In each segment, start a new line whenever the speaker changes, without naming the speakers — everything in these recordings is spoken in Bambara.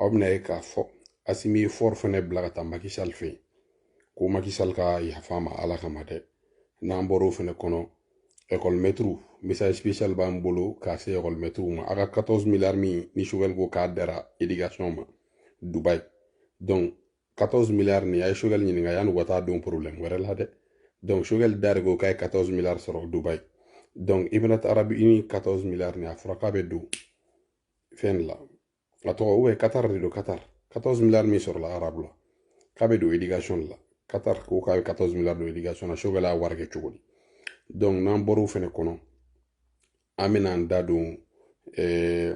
aw bɛna ye k'a fɔ asimi ye fɔri fɛnɛ bila ka taa makisali fɛ yen ko makisali ka yafa ma ala kama dɛ n'an bɔr'o fɛnɛ kɔnɔ ekɔlimɛtiriw message spécial b'an bolo k'a se ekɔlimɛtiriw ma a ka 14 miliyari min ni sogɛli ko k'a dara éducation ma dubayi donc 14 miliyari nin a ye sogɛli ɲininka yanni u ka taa don problème wɛrɛ la dɛ donc sogɛli da de ko k'a ye 14 miliyari sɔrɔ dubayi donc émirats arabes unis 14 miliyari nin a fɔra k'a bɛ don fɛn la a tɔgɔ ou bien katari de don katari 14 miliyari min sɔrɔla arabu la k'a bɛ don edikasɔn de la katari ko k'a bɛ 14 miliyari don edikasɔn na sogɛli y'a wari kɛ cogo di donc n'an bɔr'o fɛnɛ kɔnɔ an bɛna an da don eh,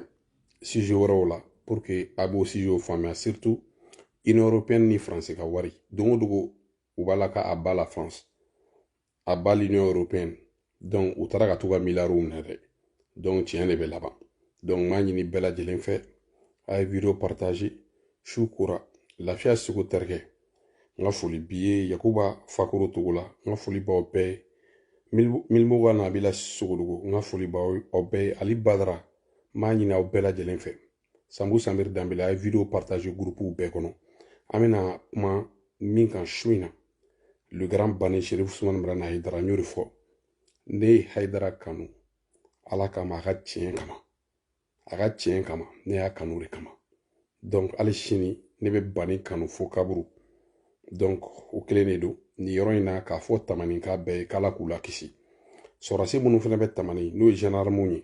sije wɛrɛw la pour que a b'o sijew faamuya surtout union européenne ni faransi ka wari don o dogo u b'a la k'à bas la france à bas l'union européenne donc u taara ka t'u ka miliyariw minɛ dɛ donc tiɲɛ de bɛ laban donc n b'a ɲini bɛɛ lajɛlen fɛ a ye video partage su kora lafiya seku terikɛ n ka foli b'i ye yakuba fakoro togola n ka foli b'aw bɛɛ ye milimoga nabila sogodogo n ka foli b'aw bɛɛ ye ali badara n b'a ɲini aw bɛɛ lajɛlen fɛ sambu sanbiri danbele a ye video partage gurupuw bɛɛ kɔnɔ an bɛna kuma min kan su in na le grand bani sherif usumani madani hayidara n y'o de fɔ ne ye hayidara kanu ala kama a ka tiɲɛ kama a ka tiɲɛ kama ne y'a kanu de kama donc hali sini ne bɛ bani kanu fo kaburu donc o kelen de don nin yɔrɔ in na k'a fɔ tamanika bɛɛ ye k'ala k'u lakisi sɔrɔdasi minnu fana bɛ tamani n'o ye zandarmuw ye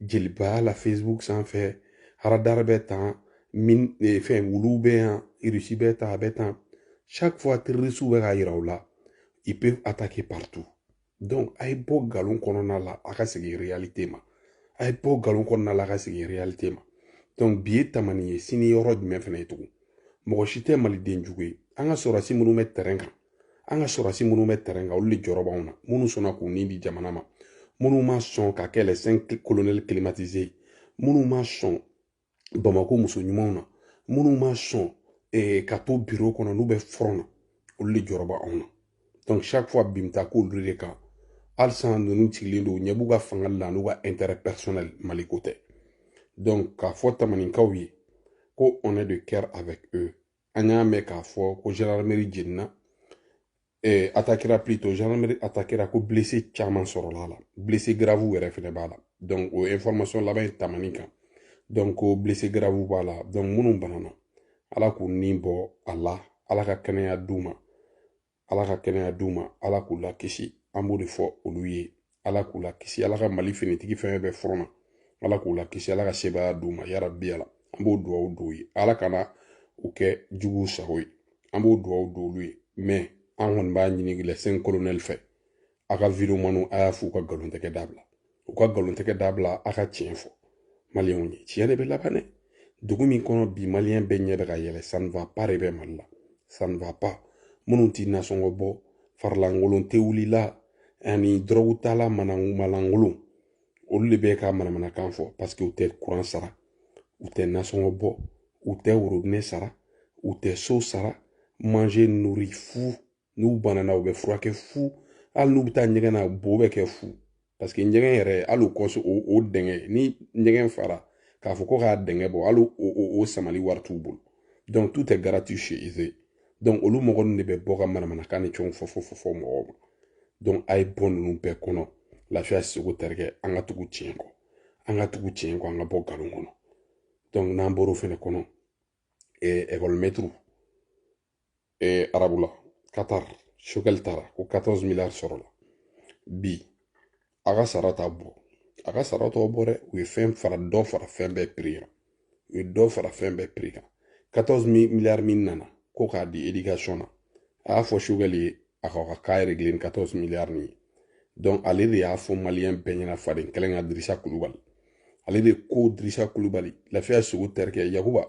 jelibaya la facebook sanfɛ haradar bɛ tan min eh, fɛn wulu bɛ yan irisi bɛ tan a bɛ tan chaque fois terrorisiw bɛ k'a yira u la ils peuvent attaquer partout donc a ye bɔ nkalon kɔnɔna la a ka segin réalité ma a ye bɔ nkalon kɔnɔna la a ka segin réalité ma donc bi ye tamani ye sini yɔrɔ jumɛn fana ye tugun mɔgɔ si tɛ maliden jugu ye an ka sɔrɔdasi minnu bɛ terrain kan an ka sɔrɔdasi minnu bɛ tɛrɛn kan olu de jɔrɔ b'anw na minnu sɔnna k'u ni di jamana ma minnu ma sɔn ka kɛ les 5 colonels climatisés minnu ma sɔn bamako muso ɲumanw na minnu ma sɔn eh, ka to biro kɔnɔ n'u bɛ fɔrɔn na olu de jɔrɔ b'anw na donc chaque fois bin bɛ taa k'olu de kan halisa ninnu sigilen don ɲɛ b'u ka fanga la n'u ka intérêt personnel maliko tɛ donc k'a fɔ tamanikaw ye ko on est de cœur avec eux an y'a mɛn k'a fɔ ko gendarmerie jenina eh, atakira plutôt gendarmerie atakira ko blessé caman sɔrɔla a la blessé grave yɛrɛ fɛnɛ b'a la donc o information laban in tamani kan donc ko blessé grave b'a la donc minnu banana ala k'u ni bɔ a la ala ka kɛnɛya d'u ma ala ka kɛnɛya d'u ma ala k'u lakisi an b'o de fɔ olu ye ala k'u lakisi ala ka mali finitigi fɛn bɛɛ fɔrɔn na ala k'u lakisi ala ka sebaya d'u ma yarabi ala an b'o duwawu d'u ye ala kana u kɛ juguw sago ye an b'o duwawu don olu ye mɛ an kɔni b'a ɲini les cinq colonels fɛ a ka videomaniw a y'a fɔ u ka nkalon tɛgɛ dabila u ka nkalon tɛgɛ dabila a ka tiɲɛ fɔ maliyɛnw ye tiɲɛ de bɛ laban dɛ dugu min kɔnɔ bi maliyɛn bɛɛ ɲɛ bɛ ka yɛlɛ ça ne va pas de bɛ mali la ça ne va pas minnu tɛ nasɔngɔ bɔ farilankolon tewulila ani dɔrɔgu tala malankolon olu de bɛ ka manamanakan fɔ paseke u tɛ kuran sara u tɛ nasɔngɔ bɔ u tɛ worobinɛ sara u tɛ so sara manger nourrir fu n'u banana u bɛ furakɛ fu hali n'u bɛ taa ɲɛgɛn na bo bɛ kɛ fu paseke ɲɛgɛn yɛrɛ hali kɔso o o dɛngɛ ni ɲɛgɛn fara k'a fɔ ko k'a dɛngɛ bɔ hali o o o samali wari t'u bolo donc tout est gratuit chez eux donc olu mɔgɔ ninnu de bɛ bɔ ka manamanakan ni fɛnw fɔ fɔ fɔ fɔ mɔgɔw ma donc a ye bɔ ninnu bɛɛ kɔnɔ lafiya seko terikɛ an ka tugu tiɲɛ kɔ an ka tugu tiɲɛ kɔ an ka bɔ nkalon kɔnɔ donc n'an bɔr'o fɛnɛ kɔnɔ ekɔlimɛtiriw arabu la katar choguel taara ko katɔrɔzi miliyari sɔrɔ la bi a ka sara t'a bɔ a ka sara t'aw bɔ dɛ u ye fɛn fara dɔ fara fɛn bɛɛ piri kan u ye dɔ fara fɛn bɛɛ piri kan katɔrɔzi miliyari min nana ko k'a di edikasɔn na a y'a fɔ choguel ye a k'a ka cas régler ni 14 miliyari nin ye donc ale de y'a fɔ maliyɛn bɛɛ ɲɛna fadenkɛlɛ ka dirisa kulubali ale de ko dirisa kulubali lafiya sogo terikɛ yakuba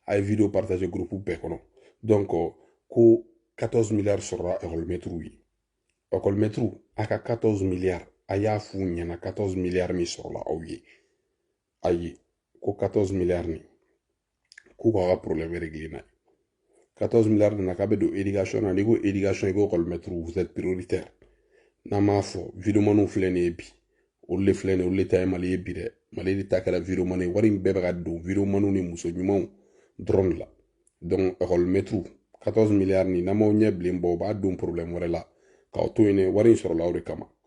a ye video partager groupe bɛɛ kɔnɔ donc ko 14 miliyari sɔrɔla ekɔlimɛtiriw ye ekɔlimɛtiriw a ka 14 miliyari a y'a f'u ɲɛna 14 miliyari min sɔrɔla aw ye ayi ko 14 milliards nin k'u k'a ka problème régler n'a ye 14 milliards nana k'a bɛ don éducation na n'i ko éducation i ko école maître vous êtes prioritaire n'an m'a fɔ videomaniw filɛ nin ye bi olu de filɛ nin ye olu de ta ye mali ye bi dɛ mali de ta kɛra videomani ye wari in bɛɛ bɛ ka don videomaniw ni muso ɲumanw dɔrɔn de la donc école maître 14 milliards nin n'aw m'aw ɲɛ bilen bɔ u b'a don problème wɛrɛ la k'aw to yen dɛ wari in sɔrɔla o de kama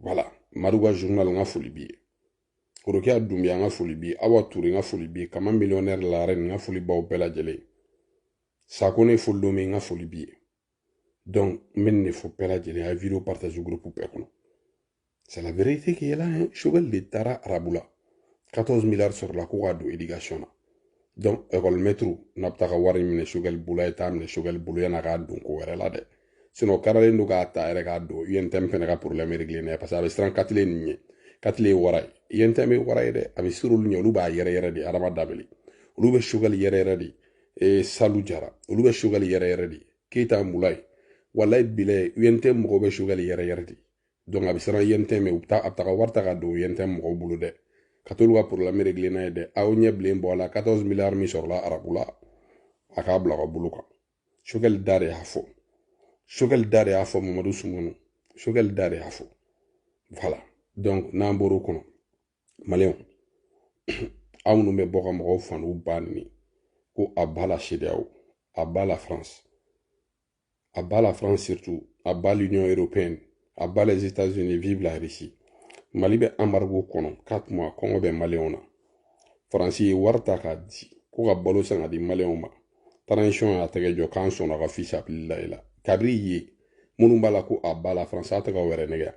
voilà maruga journal n ka foli b'i ye korokiya dunbiya n ka foli b'i ye awa ture n ka foli b'i ye kama millionnaire la reine n ka foli b'aw bɛɛ lajɛlen sako ne foli don min n ka foli b'i ye donc n bɛ nin de fɔ bɛɛ lajɛlen a ye video partager groupe bɛɛ kɔnɔ c'est la vérité qui est là hein choguel de taara arabu la 14 milliards sɔrɔla ko k'a don éducation na donc ekɔlimɛtiriw n'a bɛ taa ka wari minɛ sogɛli bolo a ye taa minɛ sogɛli bolo yan'a k'a don ko wɛrɛ la dɛ sinon karalen don k'a ta yɛrɛ k'a don untm fɛnɛ ka problème régler n'a ye parce que a bɛ siran katile nin ɲɛ katile ye wara ye untm ye wara ye dɛ a bɛ sir'olu ɲɛ olu b'a yɛrɛyɛrɛ de adama dabele olu bɛ sogɛli yɛrɛyɛrɛ de e salu jara olu bɛ sogɛli yɛrɛyɛrɛ de keyita mulayi walayi bilayi untm mɔgɔw bɛ sogɛli yɛrɛyɛrɛ de donc a bɛ siran untm ɲɛ u bɛ taa a bɛ taga wari ta ka don untm mɔgɔw bolo dɛ ka t'olu ka problème régler n'a ye dɛ aw ɲɛ bilen bɔ a la 14 milliards min sɔrɔla arabu la a k'a bila ka bolo kan sogɛli da de y'a fɔ sogɛli da de y'a fɔ mamadu sumunu sogɛli da de y'a fɔ voilà donc n'an bɔr'o kɔnɔ maliyɛnw aw minnu bɛ bɔ ka mɔgɔw fa n'u ba neni ko à bas la cedeao à bas la france à bas la France surtout, à bas l'Union européenne, à bas les États-Unis, vive la Russie. Mali bɛ embargo kɔnɔ 4 mois kɔngɔ bɛ maliyɛnw na faransi ye wari ta k'a di ko ka balo san ka di maliyɛnw ma transition y'a tɛgɛ jɔ k'an sɔnna ka fisabililayi la kabiri ye minnu b'a la ko à bas la France a tɛ ka wɛrɛ nɛgɛ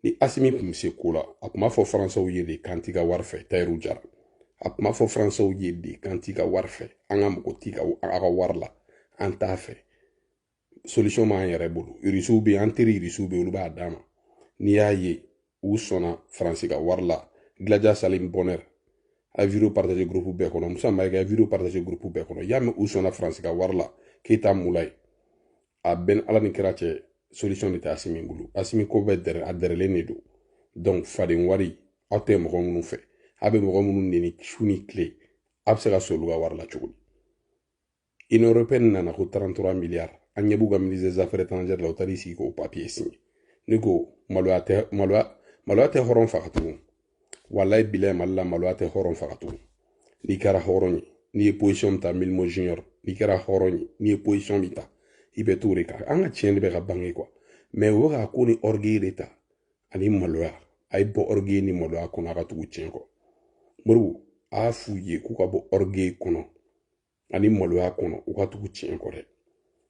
ni asimi tun bɛ se ko la a tun b'a fɔ faransaw ye de k'an t'i ka wari fɛ tayiru jara a tun b'a fɔ faransaw ye de k'an t'i ka wari fɛ an ka mago t'i ka a ka wari la an t'a fɛ solution b'an yɛrɛ bolo irisiw bɛ an teri irisiw bɛ olu b'a d'an ma n'i y'a ye u sɔnna faransi ka wari la gilaja salim bonheur a video partage groupe bɛɛ kɔnɔ musa mayiga a video partage groupe bɛɛ kɔnɔ y'a mɛn u sɔnna faransi ka wari la keyita mulayi a bɛn ala ni kira cɛ solution de tɛ asimi bolo asimi ko bɛɛ dɛrɛ a dɛrɛlen de don donc faden wari aw tɛ mɔgɔ minnu fɛ a bɛ mɔgɔ minnu neni su ni tile a bɛ se ka sɔn olu ka wari la cogo di union européenne nana ko 33 milliards an ɲɛ b'u ka ministre des affaires étrangères la u taar'i sigi k'o papier signer ne ko maloya tɛ hɔrɔn faga tugun walayi bilayi mali la maloya tɛ hɔrɔn faga tugun n'i kɛra hɔrɔn ye n'i ye position min ta milimo junior n'i kɛra hɔrɔn ye n'i ye position min ta i bɛ t'o de kan an ka tiɲɛ de bɛ ka bange quoi mais o bɛ ka ko ni orgueil de ta ani maloya a ye bɔ orgueil ni maloya kɔnɔ a ka tugu tiɲɛ kɔ modibo a y'a f'u ye k'u ka bɔ orgueil kɔnɔ ani maloya kɔnɔ u ka tugu tiɲɛ kɔ dɛ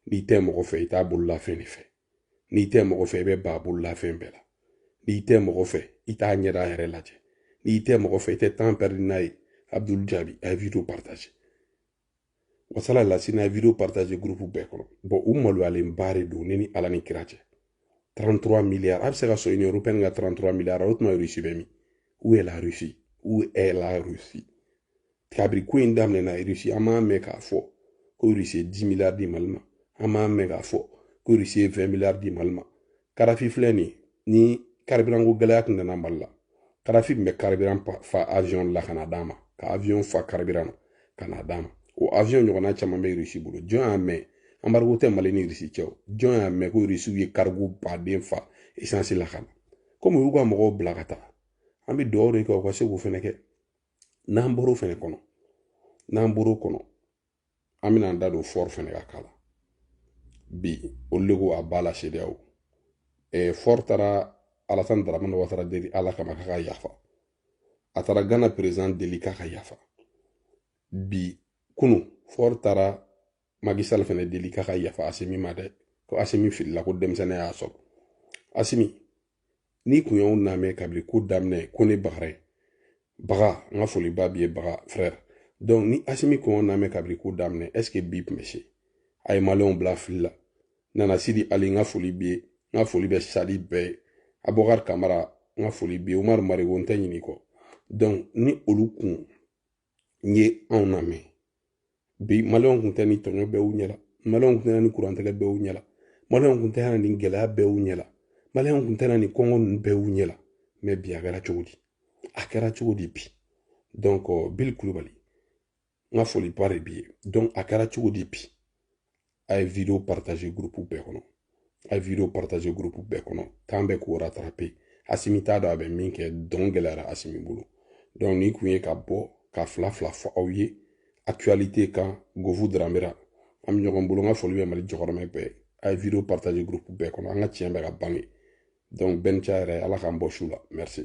n'i tɛ mɔgɔ fɛ i t'a bololafɛn de fɛ n'i tɛ mɔgɔ fɛ i bɛ ban a bololafɛn bɛɛ la n'i tɛ mɔgɔ fɛ i t'a ɲɛda yɛrɛ lajɛ n'i tɛ mɔgɔ fɛ i tɛ temps perdre n'a ye abdul jaabi a ye video partage wasala lasina a ye video partage groupe bɛɛ kɔnɔ bon u maloyalen ba de don ne ni ala ni kira cɛ 33 milliards a bɛ se ka sɔrɔ union européenne ka 33 milliards o tuma russie bɛ min où est la russie où est la russie kabiri ko in daminɛna irisi an m'a mɛn k'a fɔ ko irisi ye dix miliyari di mali ma an m'a mɛn k'a fɔ ko irisi ye vingt miliyari di mali ma karafi filɛ nin ni karibiran ko gɛlɛya tun nana mali la karafi tun bɛ karibiran fa avion la ka na d'a ma ka avion fa karibiran na ka na d'a ma o avion ɲɔgɔnna caman bɛ irisi bolo jɔn y'a mɛn anbarigo tɛ mali ni irisi cɛ o jɔn y'a mɛn ko irisiw ye karigo baden fa esansi la ka na komi u y'u ka mɔgɔw bila ka taa an bɛ dugawu de kɛ u ka se k'o fɛnɛ kɛ n'an bɔr'o fɛnɛ kɔnɔ n'an bɔr'o kɔnɔ an bɛna an da don fɔri fɛnɛ ka k'a la bi olu de ko à bas la cedeao fɔri taara alasani daramani watara deli ala kama k'a ka yafa a taara gana perezidan deli k'a ka yafa bi kunu fɔri taara maki sal fɛnɛ deli k'a ka yafa asimi ma dɛ ko asimi filila ko denmisɛnnin y'a sɔrɔ asimi n'i kun y'anw namɛn kabili ko daminɛ ko ne bagara ye baga n ka foliba b'i ye baga frère donc ni asimi kun y'anw namɛn kabili ko daminɛ est ce que bi tun bɛ se a ye maliyɛnw bila fili la nana sidi ali n ka foli b'i ye n ka foli bɛ sadi bɛɛ ye abubakari kamara n ka foli b'i ye umaru marigo n tɛ ɲinɛ i kɔ donc ni olu kun n ye anw lamɛn bi maliyɛnw kun tɛ nin tɔɲɔ bɛɛ y'u ɲɛla maliyɛnw kun tɛ nin kurantigɛ bɛɛ y'u ɲɛla maliyɛnw kun tɛ nin gɛlɛya bɛɛ y'u ɲɛla maliyɛnw kun tɛ nin kɔngɔ ninnu bɛɛ y'u ɲɛla mais bi a kɛra cogo di a kɛra cogo di bi donc bili kulubali n ka foliba de b'i ye donc a kɛra cogo di bi a ye video partager groupe bɛɛ kɔnɔ a ye video partager groupe bɛɛ kɔnɔ temps bɛ k'o rattraper asimi t'a dɔn a bɛ min kɛ dɔn gɛlɛyara asimi bolo donc nin kun ye ka bɔ ka fila fila fɔ aw ye actualité kan gofu daramera an bɛ ɲɔgɔn bolo n ka foli bɛ mali jɔkɔrɔmɛ bɛɛ a ye video partager groupe bɛɛ kɔnɔ an ka tiɲɛ bɛ ka bange donc bɛnca yɛrɛ ala k'an bɔ su la merci